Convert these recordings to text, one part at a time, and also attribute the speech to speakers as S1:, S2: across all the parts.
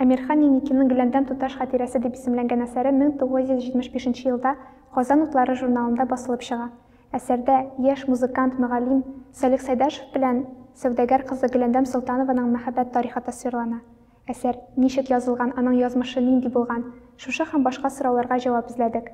S1: Әмирхан Еникинең Гөләндәм туташ хатирәсе дип исемләнгән әсәре 1975 нче елда Казан утлары журналында басылып чыга. Әсәрдә яшь музыкант, мөгаллим Салих Сәйдәшев белән сәүдәгәр кызы Гөләндәм Солтанованың мәхәббәт тарихы тасвирлана. Әсәр ничек язылган, аның язмышы нинди булган, шушы һәм башка сорауларга җавап эзләдек.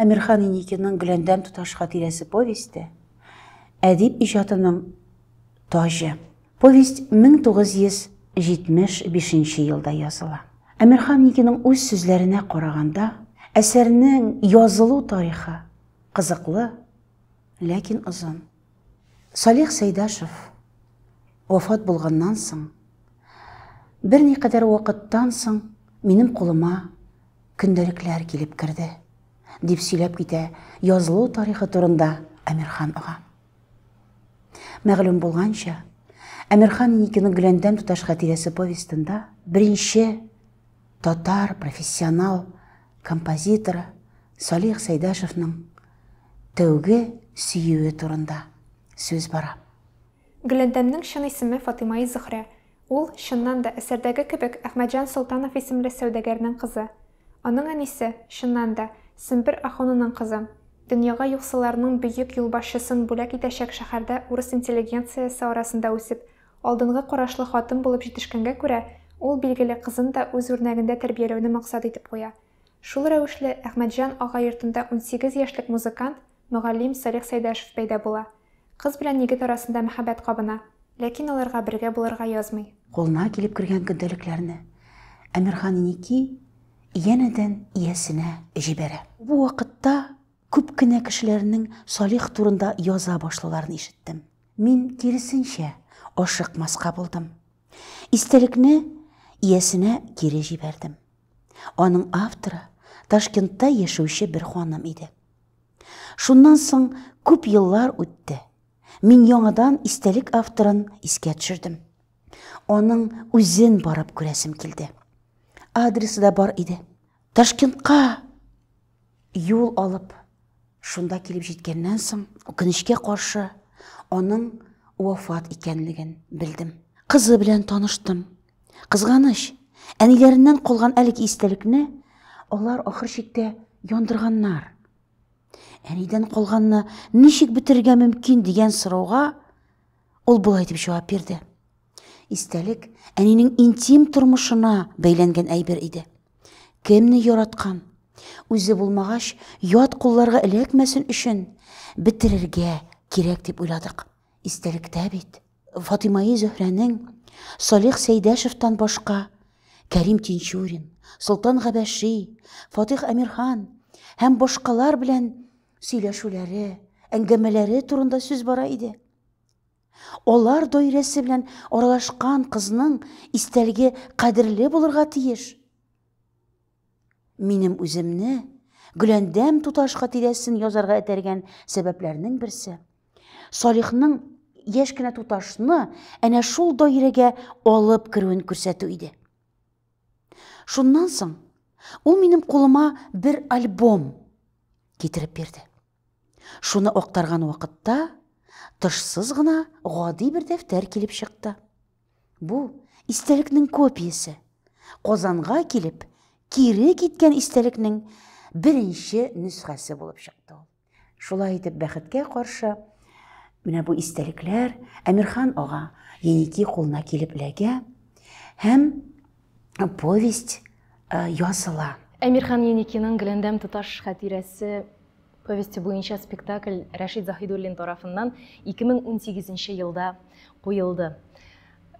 S2: Әмирхан Иникинең Гөләндәм туташ хатирәсе повесте әдип иҗатының таҗы. Повесть 1975 елда языла. Әмирхан Иникинең үз сүзләренә караганда, әсәрнең язылу тарихы Кызыклы, ләкин озын. Салих Сәйдәшев вафат булганнан соң, берникадәр вакыттан соң минем кулыма көндәлекләр килеп керде, дип сөйләп китә язылу тарихы турында Әмирхан ага. Мәгълүм булганча, Әмирхан Никиның Гөләндәм туташ хатирәсе повестында беренче Татар профессионал композиторы Салих Сәйдәшевның тәүге сөюе турында сүз бара. Гөләндәмнең
S1: чын исеме Фатыймаи Зөхрә. Ул, чыннан да, әсәрдәге кебек, Әхмәтҗан Солтанов исемле сәүдәгәрнең кызы. Аның әнисе, чыннан да, Сембер ахунының кызы. Дөньяга юксыларның бөек юлбашчысын бүләк итәчәк шәһәрдә урыс интеллигенциясе арасында үсеп, Алдынгы карашлы хатын булып җитешкәнгә күрә, ул, билгеле, кызын да үз үрнәгендә тәрбияләүне максат итеп куя. Шул рәвешле, Әхмәтҗан ага йортында унсигез яшьлек музыкант, мөгаллим Салих Сәйдәшев пәйда була. Кыз белән егет арасында мәхәббәт кабына, ләкин аларга бергә булырга язмый. Кулына килеп кергән
S2: көндәлекләрне Әмирханники янәдән иясенә җибәрә. Бу вакытта күп кенә кешеләрнең Салих турында яза башлауларын ишеттем. Мин, киресенчә, ашыкмаска булдым. Истәлекне иясенә кире җибәрдем. Аның авторы Ташкентта яшәүче бер ханым иде. Шуннан соң күп еллар үтте. Мин яңадан истәлек авторын искә төшердем. Аның үзен барып күрәсем килде. Адресы да бар иде. Ташкентка Юл алып шунда килеп җиткәннән соң, үкенечкә каршы, аның вафат икәнлеген белдем. Кызы белән таныштым. Кызганыч, әниләреннән калган әлеге истәлекне алар ахыр чиктә яндырганнар. Әнидән калганны ничек бетерергә мөмкин дигән сорауга Ул болай дип җавап бирде. Истәлек әнинең интим тормышына бәйләнгән әйбер иде. Кемне яраткан? Үзе булмагач, ят кулларга эләкмәсен өчен бетерергә кирәк дип уйладык. Истәлектә бит Фатимаи Зөһрәнең Салих Сәйдәшевтан башка Кәрим Тинчурин, Солтан Габәши, Фатих Әмирхан һәм башкалар белән сөйләшүләре, әңгәмәләре турында сүз бара иде. Алар даирәсе белән аралашкан кызның истәлеге кадерле булырга тиеш. Минем үземне Гөләндәм туташ хатирәсен язарга этәргән сәбәпләрнең берсе. Салихның яшь кенә туташны әнә шул даирәгә алып керүен күрсәтү иде. Шуннан соң ул минем кулыма бер альбом китереп бирде. Шуны актарган вакытта тышсыз гына гади бер дәфтәр килеп чыкты. Бу истәлекнең копиясе. Казанга килеп, кире киткән истәлекнең беренче нөсхәсе булып чыкты ул. Шулай итеп, бәхеткә каршы, менә бу истәлекләр Әмирхан ага Еники кулына килеп эләгә һәм повесть э, языла. Әмирхан
S3: Еникиның Гөләндәм тоташ хатирәсе повесте буенча спектакль Рәшид Заһидуллин тарафыннан 2018 елда куелды.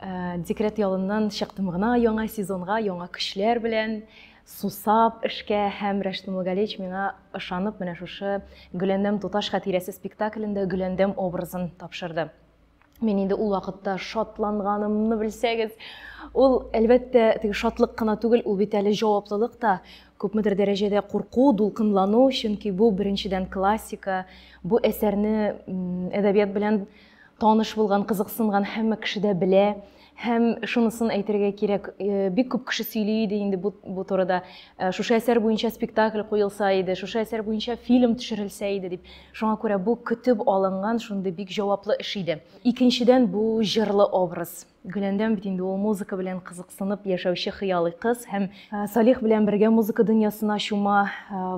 S3: Э, декрет ялыннан чыктым гына яңа сезонга, яңа көчләр белән сусап эшкә һәм Рәшид Мулгалевич миңа ышанып менә шушы Гөләндәм тоташ хатирәсе спектаклендә Гөләндәм образын тапшырды. Мин инде ул вакытта шатланганымны белсәгез. Ул, әлбәттә, теге шатлык кына түгел, ул бит әле җаваплылык та, күпмедер дәрәҗәдә курку, дулкынлану, чөнки бу беренчедән классика, бу әсәрне әдәбият белән таныш булган, кызыксынган һәммә кеше дә белә. Һәм шунысын әйтергә кирәк, бик күп кеше сөйли иде инде бу, бу турыда. Шушы әсәр буенча спектакль куелса иде, шушы әсәр буенча фильм төшерелсә иде дип. Шуңа күрә бу көтеп алынган шундый бик җаваплы эш иде. Икенчедән, бу җырлы образ. Гөләндәм бит инде ул музыка белән кызыксынып яшәүче хыялый кыз һәм Салих белән бергә музыка дөньясына чума,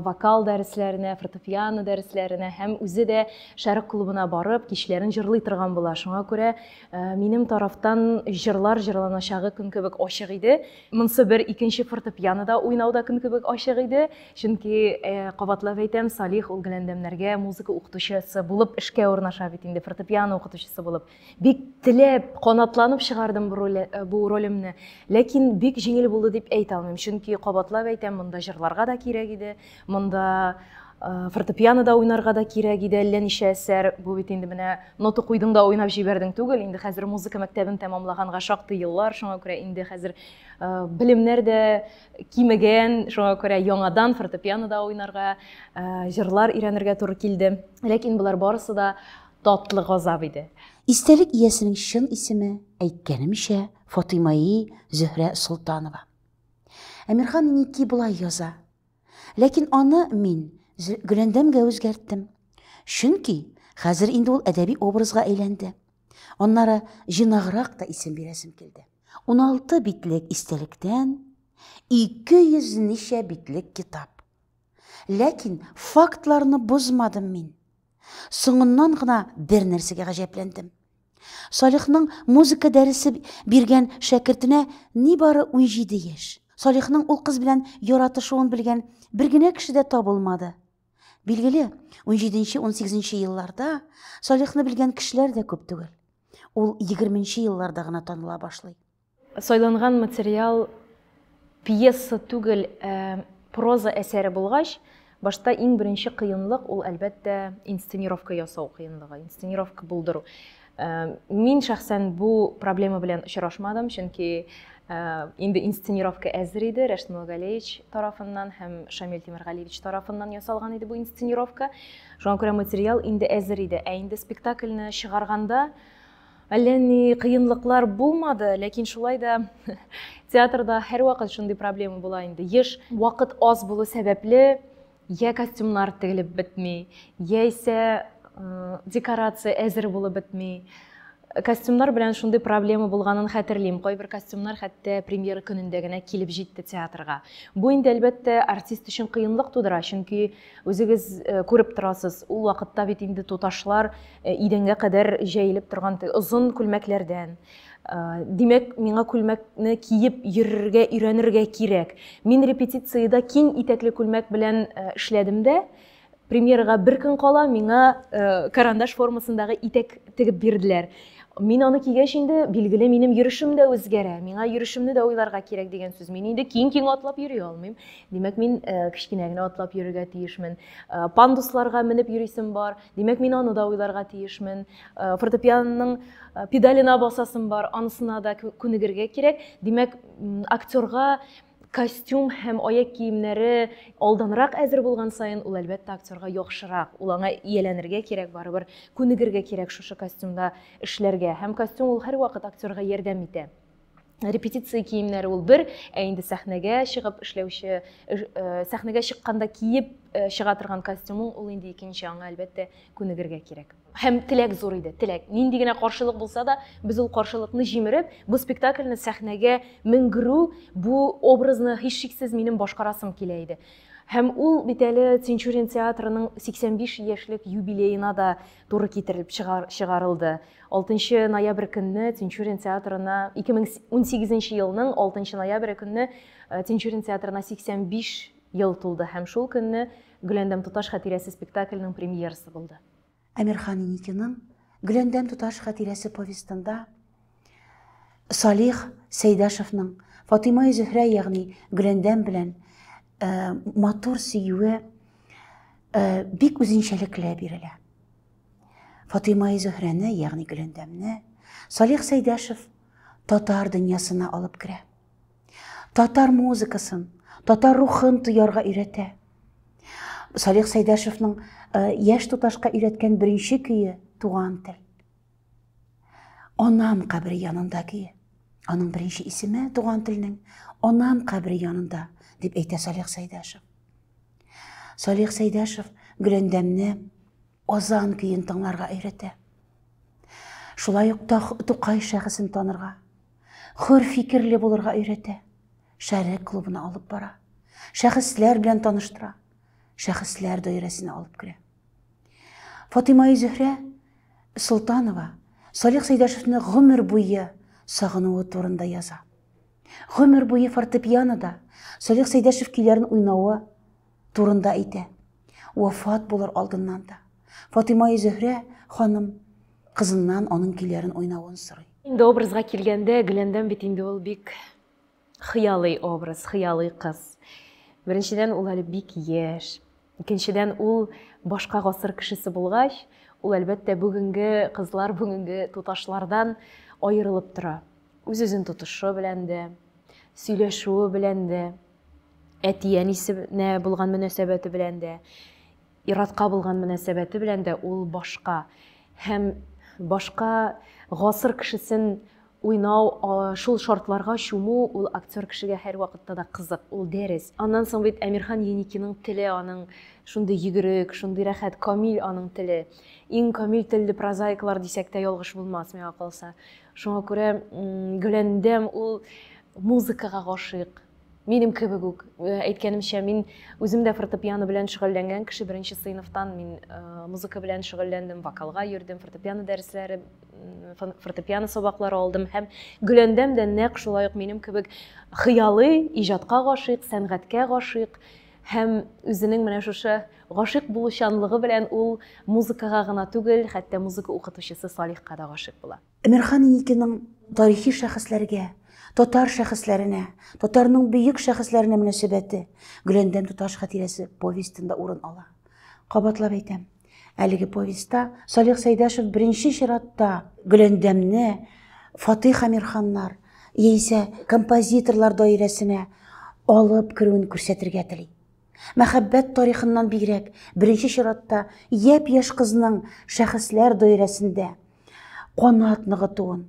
S3: вокал дәресләренә, фортепиано дәресләренә һәм үзе дә Шәрык клубына барып, кичләрен җырлый торган була. Шуңа күрә Э, минем тарафтан җырлар җырланачагы көн кебек ачык иде монсы бер икенче фортепианода уйнау да көн кебек ачык иде чөнки э, кабатлап әйтәм салих ул гөләндәмнәргә музыка укытучысы булып эшкә урнаша бит инде фортепиано укытучысы булып бик теләп канатланып чыгардым бу э, ролемне ләкин бик җиңел булды дип әйтә алмыйм чөнки кабатлап әйтәм монда җырларга да кирәк иде Монда фортепиано да уйнарга да кирәк иде, әллә ничә әсәр. Бу бит инде менә нота куйдың да уйнап җибәрдең түгел. Инде хәзер музыка мәктәбен тәмамлаганга шактый еллар, шуңа күрә инде хәзер белемнәр дә кимегән, шуңа күрә яңадан фортепиано да уйнарга, җырлар өйрәнергә туры килде. Ләкин болар барысы да татлы газап иде. Истәлек иясенең
S2: чын исеме, әйткәнемчә, Фатыймаи Зөһрә Солтанова. Әмирхан Ники болай яза. Ләкин аны мин Гөләндәмгә үзгәрттем. Чөнки хәзер инде ул әдәби образга әйләнде. Аннары җыйнаграк та исем бирәсем килде. Уналты битлек истәлектән, ике йөз ничә битлек китап. Ләкин фактларны бозмадым мин. Соңыннан гына бер нәрсәгә гаҗәпләндем. Салихның музыка дәресе биргән шәкертенә нибары унҗиде яшь. Салихның ул кыз белән яратышуын белгән бер генә кеше дә табылмады. Билгеле, унҗиденче-унсигезенче елларда Салихны белгән кешеләр дә күп түгел. Ул егерменче елларда гына таныла башлый. Сайланган
S3: материал пьеса түгел, ә проза әсәре булгач, башта иң беренче кыенлык, ул, әлбәттә, инсценировка ясау кыенлыгы, инсценировка булдыру. Мин шәхсән бу проблема белән очрашмадым, чөнки инде инсценировка әзер иде, Рәшит Муллагалиевич тарафыннан һәм Шамил Тимергалиевич тарафыннан ясалган иде бу инсценировка. Шуңа күрә материал инде әзер иде. Ә инде спектакльне чыгарганда, Әллә ни кыенлыклар булмады, ләкин шулай да театрда һәрвакыт шундый проблема була инде. Еш вакыт аз булу сәбәпле, я костюмнар тегелеп бетми, яисә э, декорация әзер булып бетми. Костюмнар белән шундый проблема булганын хәтерлим. Кайбер костюмнар хәтта премьера көнендә генә килеп җитте театрга. Бу инде, әлбәттә, артист өчен кыенлык тудыра, чөнки Үзегез э, күреп торасыз, ул вакытта бит инде туташлар э, идәнгә кадәр җәелеп торган озын күлмәкләрдән. Э, димәк, миңа күлмәкне киеп йөрергә, өйрәнергә кирәк. Мин репетициядә киң итәкле күлмәк белән эшләдем дә, премьерага бер көн кала миңа карандаш формасындагы итәк тегеп бирделәр. Мин аны кигәч инде, билгеле, минем йөрешем дә үзгәрә. Миңа йөрешемне дә уйларга кирәк дигән сүз. Мин инде киң-киң атлап йөри алмыйм. Димәк, мин э, кечкенә генә атлап йөрергә тиешмен. Э, пандусларга менеп йөрисем бар. Димәк, мин аны да уйларга тиешмен. Э, фортепианоның педалена басасым бар, анысына да күнегергә кирәк. Димәк, актерга костюм һәм аяк киемнәре алданрак әзер булган саен ул әлбәттә актерга яхшырак ул аңа ияләнергә кирәк барыбер күнегергә кирәк шушы костюмда эшләргә һәм костюм ул һәрвакыт актерга ярдәм итә репетиция киемнәре ул бер ә инде сәхнәгә чыгып эшләүче сәхнәгә чыкканда киеп чыга торган костюмың ул инде икенче аңа әлбәттә күнегергә кирәк һәм теләк зур иде теләк нинди генә каршылык булса да без ул каршылыкны җимереп бу спектакльне сәхнәгә менгерү бу образны һичшиксез минем башкарасым килә иде һәм ул бит әле тинчурин театрының 85 яшьлек юбилеена да туры китерелеп чыгар, чыгарылды. 6 ноябрь көнне Тинчурин театрына 2018 елның 6 ноябрь көнне э, Тинчурин театрына 85 ел тулды һәм шул көнне Гөләндәм туташ хатирәсе спектакльнең премьерасы булды. Әмирхан
S2: Иникиның Гөләндәм туташ хатирәсе повестында Салих Сәйдәшевның Фатыйма Зөһрә, ягъни Гөләндәм белән э, матур сөюе э, бик үзенчәлекле бирелә. Фатыйма Зөһрәне, ягъни Гөләндәмне Салих Сәйдәшев татар дөньясына алып керә. Татар музыкасын, татар рухын тоярга өйрәтә. Салих Сәйдәшевның э, яшь туташка өйрәткән беренче көе туган тел. Анам кабере янында ки. Аның беренче исеме туган телнең Анам кабере янында дип әйтә Салих Сәйдәшев. Салих Сәйдәшев Гөләндәмне Озан көен тыңларга өйрәтә. Шулай ук Тукай шәхесен танырга, хөр фикерле булырга өйрәтә. Шәрек клубына алып бара. Шәхесләр белән таныштыра. Шәхесләр даирәсенә алып керә. Фатыйма Зөһрә Солтанова Салих Сәйдәшевне гомер буе сагынуы турында яза. Гомер буе фортепианода Салих Сәйдәшев көйләрен уйнавы турында әйтә. Вафат булыр алдыннан да. Фатыйма Зөһрә ханым кызыннан аның көйләрен уйнавын сорый. Инде образга килгәндә,
S3: Гөләндәм бит инде ул бик Хыялый образ, хыялый кыз. Беренчедән, ул әле бик яшь. Икенчедән, ул башка гасыр кешесе булгач, ул, әлбәттә, бүгенге кызлар, бүгенге туташлардан аерылып тора. Үз-үзен тотышы белән дә, сөйләшүе белән дә, әти-әнисенә булган мөнәсәбәте белән дә. Ир-атка булган мөнәсәбәте белән дә ул башка һәм башка гасыр кешесен уйнау, шул шартларга чуму ул актер кешегә һәрвакытта да кызык, ул дәрес. Аннан соң бит Әмирхан Еникиның теле аның шундый йөгерек, шундый рәхәт, камил аның теле. Иң камил телле прозаиклар дисәк тә ялгыш булмас, миңа калса. Шуңа күрә Гөләндәм ул музыкага гашыйк. Минем кебек үк, э, әйткәнемчә, мин үзем дә фортепиано белән шөгыльләнгән кеше беренче сыйныфтан мин э, музыка белән шөгыльләндем, вокалга йөрдем, фортепиано дәресләре, фортепиано сабаклары алдым һәм Гөләндәм дә нәкъ шулай ук минем кебек хыялый, иҗатка гашыйк, сәнгатькә гашыйк һәм үзенең менә шушы гашыйк булучанлыгы белән ул музыкага гына түгел, хәтта музыка укытучысы Салихка да гашыйк була. Әмирхан Иникинең
S2: тарихи шәхесләргә, татар шәхесләренә, татарның бөек шәхесләренә мөнәсәбәте Гөләндәм туташ хатирәсе повестенда урын ала. Кабатлап әйтәм, әлеге повестьта Салих Сәйдәшев беренче чиратта Гөләндәмне Фатыйх Әмирханнар яисә композиторлар даирәсенә алып керүен күрсәтергә тели. Мәхәббәт тарихыннан бигрәк, беренче чиратта япь-яшь кызның шәхесләр даирәсендә канат ныгытуын,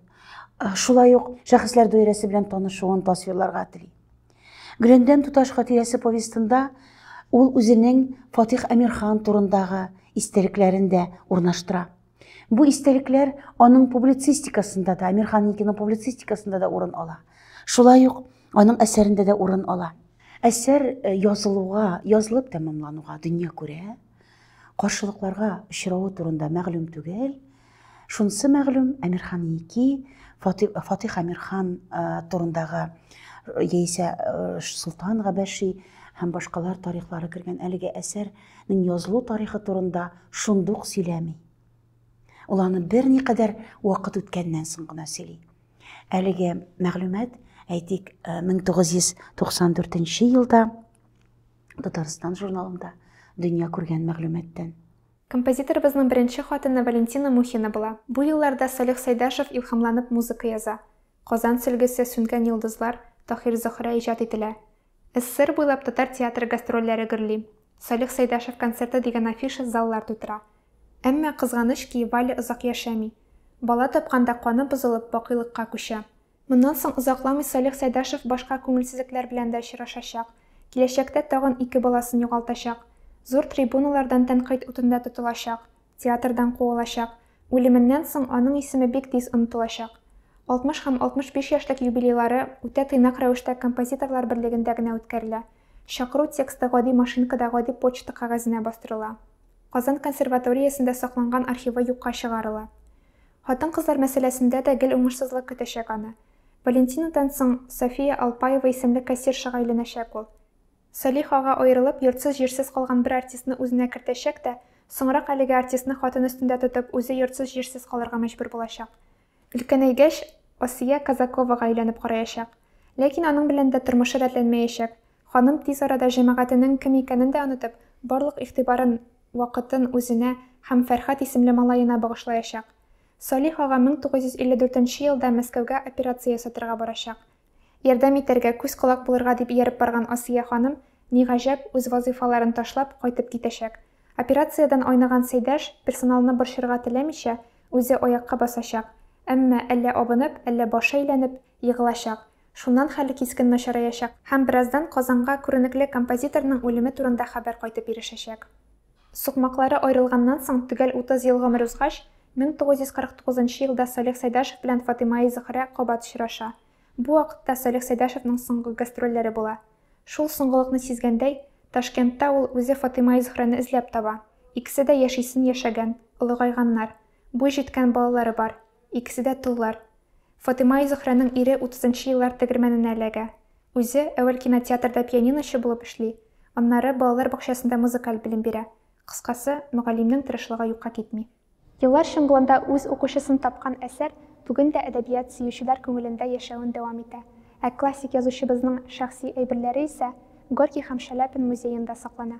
S2: шулай ук шәхесләр даирәсе белән танышуын тасвирларга тели. Гөләндәм туташ хатирәсе повестында ул үзенең Фатих Әмирхан турындагы истәлекләрен дә урнаштыра. Бу истәлекләр аның публицистикасында да, Әмирхан Никиның публицистикасында да урын ала. Шулай ук аның әсәрендә дә урын ала. Әсәр э, язылуга, язылып тәмамлануга дөнья күрә. Каршылыкларга очравы турында мәгълүм түгел. Шунысы мәгълүм, Әмирхан Ики, Фатих Әмирхан турындагы яисә Солтан Габәши һәм башкалар тарихлары кергән әлеге әсәрнең язылу тарихы турында шундук сөйләми. Ул аны берникадәр вакыт үткәннән соң гына сөйли. Әлеге мәгълүмат, әйтик, 1994 елда Татарстан журналында дөнья күргән мәгълүматтан. Композиторыбызның
S1: беренче хатыны Валентина Мухина була. Бу елларда Салих Сәйдәшев илһамланып музыка яза. Казан сөлгесе, Сүнгән йолдызлар, Таһир Зөһрә иҗат ителә. СССР буйлап татар театры гастрольләре гөрли. Салих Сәйдәшев концерты дигән афиша заллар тутыра. Әмма, кызганыч ки, Валя озак яшәми. Бала тапканда каны бозылып, бакыйлыкка күчә. Моннан соң озакламый Салих Сәйдашев башка күңелсезлекләр белән дә очрашачак, киләчәктә тагын ике баласын югалтачак, зур трибуналардан тәнкыйть утында тотылачак, театрдан куылачак, үлеменнән соң аның исеме бик тиз онытылачак. 60 һәм 65 яшьлек юбилейлары үтә тыйнак рәвештә композиторлар берлегендә генә үткәрелә. Чакыру тексты гади машинкада гади почта кәгазенә бастырыла. Казан консерваториясендә сакланган архивы юкка чыгарыла. Хатын-кызлар мәсьәләсендә дә гел уңышсызлык көтәчәк аны. Валентинадан соң София Алпаева исемле кассиршага өйләнәчәк ул. Салих ага аерылып, йортсыз-җирсез калган бер артистны үзенә кертәчәк тә, соңрак әлеге артистны хатын өстендә тотып, үзе йортсыз-җирсез калырга мәҗбүр булачак. Өлкәнәйгәч, Асия Казаковага өйләнеп караячак. Ләкин аның белән дә тормышы рәтләнмәячәк. Ханым тиз арада җәмәгатенең кем икәнен дә онытып, барлык игътибарын вакытын үзенә һәм Фәрхәт исемле малаена багышлаячак. Салих ага 1954 нче елда Мәскәүгә операция ясатырга барачак. Ярдәм итәргә, күз-колак булырга дип ияреп барган Асия ханым, ни гаҗәп, үз вазыйфаларын ташлап, кайтып китәчәк. Операциядән айныган Сәйдәш, персоналны борчырга теләмичә, үзе аякка басачак, әмма, әллә абынып, әллә башы әйләнеп, егылачак, Шуннан хәле кискен начараячак һәм бераздан Казанга күренекле композиторның үлеме турында хәбәр кайтып ирешәчәк. Сукмаклары аерылганнан соң төгәл утыз ел гомер узгач, 1949 нчы елда Салих Сәйдәшев белән Фатыйма-и-Зөһрә кабат очраша. Бу вакытта Салих Сәйдәшевның соңгы гастрольләре була. Шул соңгылыкны сизгәндәй, Ташкентта ул үзе Фатыйма-и-Зөһрәне эзләп таба. Икесе дә яшисен яшәгән, олыгайганнар. Буй җиткән балалары бар. Икесе дә толлар. Фатыйма и Зөһрәнең ире утызынчы еллар тегермәненә эләгә. Үзе, әүвәл кинотеатрда пианиночы булып эшли, аннары балалар бакчасында музыкаль белем бирә. Кыскасы, мөгаллимнең тырышлыгы юкка китми. Еллар чыңгылында үз укучысын тапкан әсәр бүген дә әдәбият сөючеләр күңелендә яшәвен дәвам итә, ә классик язучыбызның шәхси әйберләре исә Горький һәм Шаляпин музеенда саклана.